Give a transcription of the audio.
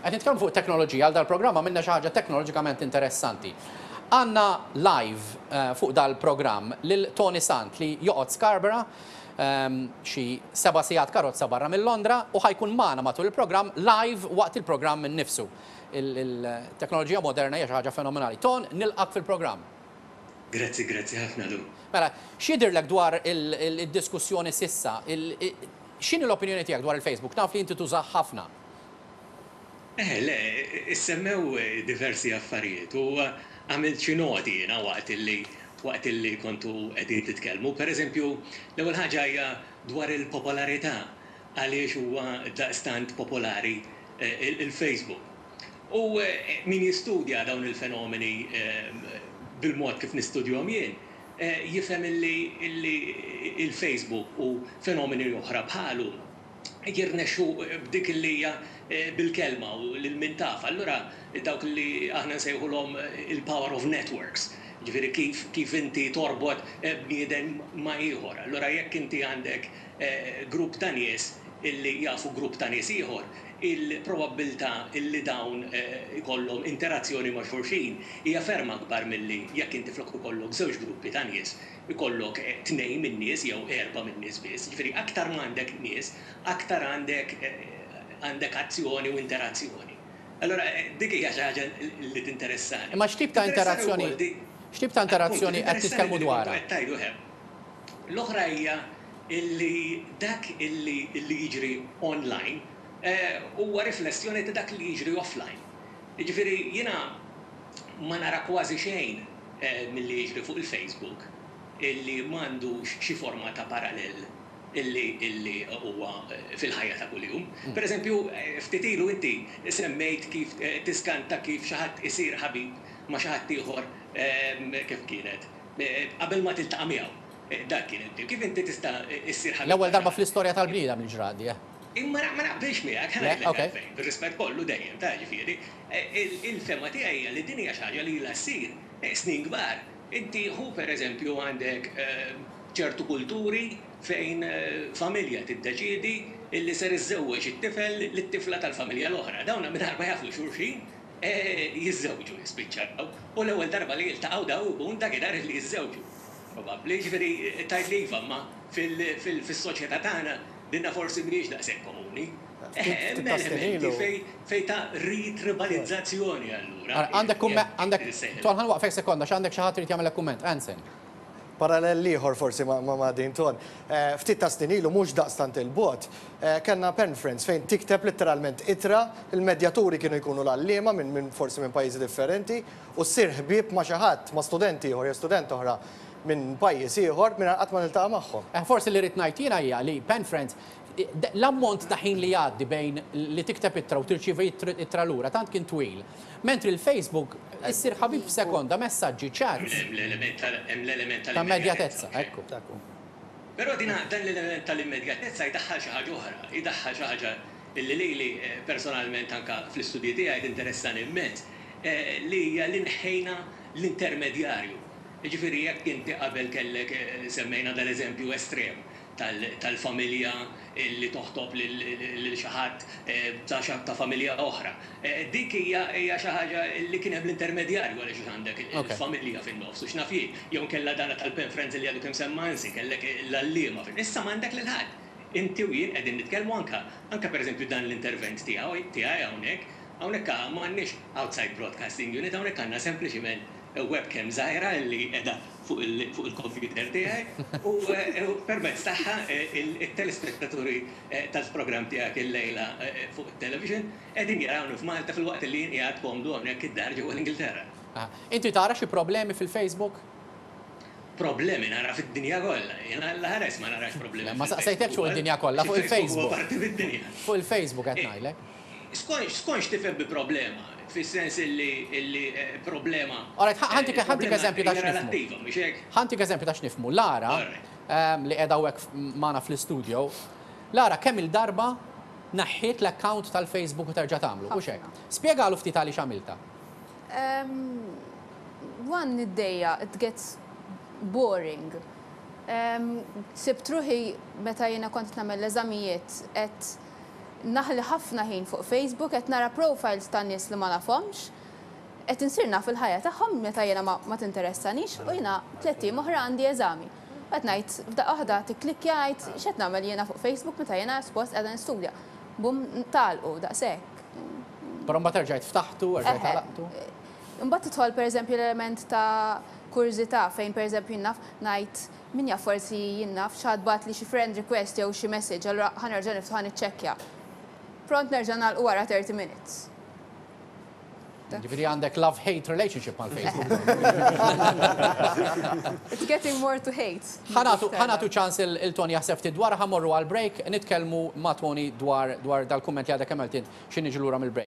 Qed nitkellmu fuq teknoloġija, għal dal-programm għamilna xi ħaġa teknoloġikament interessanti. Għandna live fuq dal-programm lil Tony Sant li joqgħod Scarborough, xi seba' sigħat karozza barra minn Londra, u ħa jkun magħna matul il-programm live waqt il-programm innifsu. Il-teknoloġija moderna hija xi ħaġa fenomenali. Ton, nilqgħek fil-programm. Grazzi, grazzi ħafna, Lou. Mela, x'jidhirlek dwar id-diskussjoni s'issa? X'inhi l-opinjoni tiegħek dwar il-Facebook? Naf li inti tużah ħafna. Eh, le, issemmew diversi affarijiet u għamilt xi noti jiena waqt li waqt li kontu qegħdin titkellmu. Pereżempju, l-ewwel ħaġa hija dwar il-popolarità, għaliex huwa daqstant popolari l-Facebook. U min jistudja dawn il-fenomeni bil-mod kif nistudjhom jien, jifhem li l-Facebook u fenomeni oħra bħalu, jirnexxu b'dik li hija bil-kelma u lil min taf. Allura dawk li aħna nsejħulhom il-power of networks, jiġifieri kif kif inti torbot bniedem ma' ieħor. Allura jekk inti għandek grupp ta' nies illi jafu grupp ta' nies ieħor, il-probabbiltà illi dawn ikollhom interazzjoni ma' xulxin hija ferm akbar milli jekk inti flok ikollok żewġ gruppi ta' nies ikollok tnejn min-nies jew erbgħa min-nies biss. Jiġifieri aktar ma għandek nies, aktar għandek għandek azzjoni u interazzjoni. Allura dik hija xi ħaġa li tinteressani. Imma x'tip ta' interazzjoni x'tip ta' interazzjoni qed titkellmu dwarha? L-oħra hija li dak li li jiġri online huwa riflessjoni ta' dak li jiġri offline. Jiġifieri jiena Ma nara kważi xejn milli jiġri fuq il-Facebook illi m'għandux xi forma ta' parallel illi huwa fil-ħajja ta' kuljum. Per eżempju, ftit ilu inti semmejt kif tiskanta kif xi ħadd isir ħabib ma' xi ħadd ieħor kif kienet qabel ma tiltaqa' miegħu. Dak kien il-bdiew. Kif inti tista' issir ħabib ta' xi ħadd? L-ewwel darba fl-istorja tal-bniedem li ġrat di. Imma ma naqbilx miegħek, ħa ngħidlek għalfejn, bir-rispett kollu dejjem, ta' ġifieri, il-fehma tiegħi hija li din hija xi ħaġa li ilha ssir snin kbar. Inti ħu pereżempju għandek ċertu kulturi fejn familja tiddeċiedi li ser iżżewweġ it-tifel lit-tifla tal-familja l-oħra. Dawn mingħajr ma jafu xulxin jiżżewġu, jispiċċaw, u l-ewwel darba li jiltaqgħu dawn ikun dakinhar illi jiżżewġu, probabbli. Ġifieri tgħidli iva, imma fis-soċjetà tagħna Dinha forsi mhijiex daqshekk komuni. Eħe, hemm elementi fejn ta' ritribalizzazzjoni allura. Għandek kumment? Għandek, Ton, ħa nwaqqfek sekonda għax għandek xi ħadd irid jagħmellek kumment. Anson. Parallel ieħor forsi ma' din, Ton. Ftit tas-snin ilu, mhux daqstant 'il bogħod, kellna Pen Friends fejn tikteb litteralment ittra, il-medjaturi kienu jkunu l-għalliema minn forsi minn pajjiżi differenti, u ssir ħbieb ma' xi ħadd, ma' student ieħor jew studenta oħra. minn pajjiż ieħor mingħajr qatt ma niltaqa' magħhom. Forsi li rrid ngħid jiena hija li pen friends l-ammont ta' ħin li jgħaddi bejn li tikteb ittra u tirċievi ittra lura tant kien twil. Mentri l-Facebook issir ħabib f'sekonda, messaġġi, chats. Hemm l-element tal-immedjatezza, ekku. Però din dan l-element tal-immedjatezza jdaħħal xi ħaġa oħra, jdaħħal xi ħaġa li lili personalment anke fl-istudji tiegħi tinteressani mmens li hija li nħejna l-intermedjarju. Jiġifieri jekk inti qabel kellek, semmejna dal-eżempju estrem tal-familja li toħtob lil xi ħadd ta' familja oħra, dik hija xi ħaġa li kien hemm l-intermedjarju għaliex għax għandek il-familja fin-nofs u x'naf jien, jew inkella dan tal-pen friends li għadu kemm semma Ansi, kellek l-għalliema fin-nofs. Issa m'għandek lil ħadd. Inti u jien qegħdin nitkellmu anke, anke pereżempju dan l-intervent tiegħu, tiegħi hawnhekk, hawnhekk m'għandniex outside broadcasting unit, hawnhekk għandna sempliċiment, webcam żgħira li qiegħda fuq il-kompjuter tiegħi u permezz tagħha t-telespettaturi tal-programm tiegħek illejla fuq it-television qegħdin jarawni f'Malta filwaqt li jien qiegħed komdu hawnhekk id-dar ġewwa l-Ingilterra. Inti tara xi problemi fil-Facebook? Problemi nara fid-dinja kollha. Jien Alla ħares ma narax problemi fil-Facebook. Le, ma saqsejtekx fuq id-dinja kollha, fuq il-Facebook. Il-Facebook huwa parti mid-dinja. Fuq il-Facebook qed ngħidlek. Skont x'tifhem bi problema? Fis-sens li problema hija relattiva, mhux hekk? Ħa ntik eżempju ta' x'nifhmu. Lara, li qiegħda hawnhekk magħna fl-istudio, Lara kemm-il darba neħħiet l-account tal-Facebook u terġa' tagħmlu, hux hekk? Spjegalu ftit għaliex għamiltha. One niddejjaq, it gets boring. Sibt ruħi meta jiena kont qed nagħmel l-eżamijiet qed Naħli ħafna ħin fuq Facebook, qed nara profiles ta' nies li ma nafhomx, qed insir naf il-ħajja tagħhom meta jiena ma tinteressanix u jiena tlett ijiem oħra għandi eżami. U qed ngħid f'daqqa waħda tikklikkja ngħid x'qed nagħmel jiena fuq Facebook meta jiena espost qiegħda nistudja. Bum tagħlqu daqshekk. Però mbagħad erġajt ftaħtu, erġajt għalaqtu. Eħe. Imbagħad tidħol pereżempju l-element ta' kurżità fejn pereżempju jien naf ngħid Min jaf forsi jien naf x'ħadd bagħatli xi friend request jew xi message allura ħa nerġa' niftaħha niċċekkja. Pront nerġa' nagħlqu wara thirty minutes. Jiġifieri għandek love hate relationship mal-Facebook. It's getting more to hate. Ħa nagħtu ħa nagħtu ċans lil lil Tony jaħseb ftit dwarha ħa mmorru għall-break nitkellmu ma' Tony dwar dwar dal-kumment li għadek għamilt int xi niġu lura mill-break.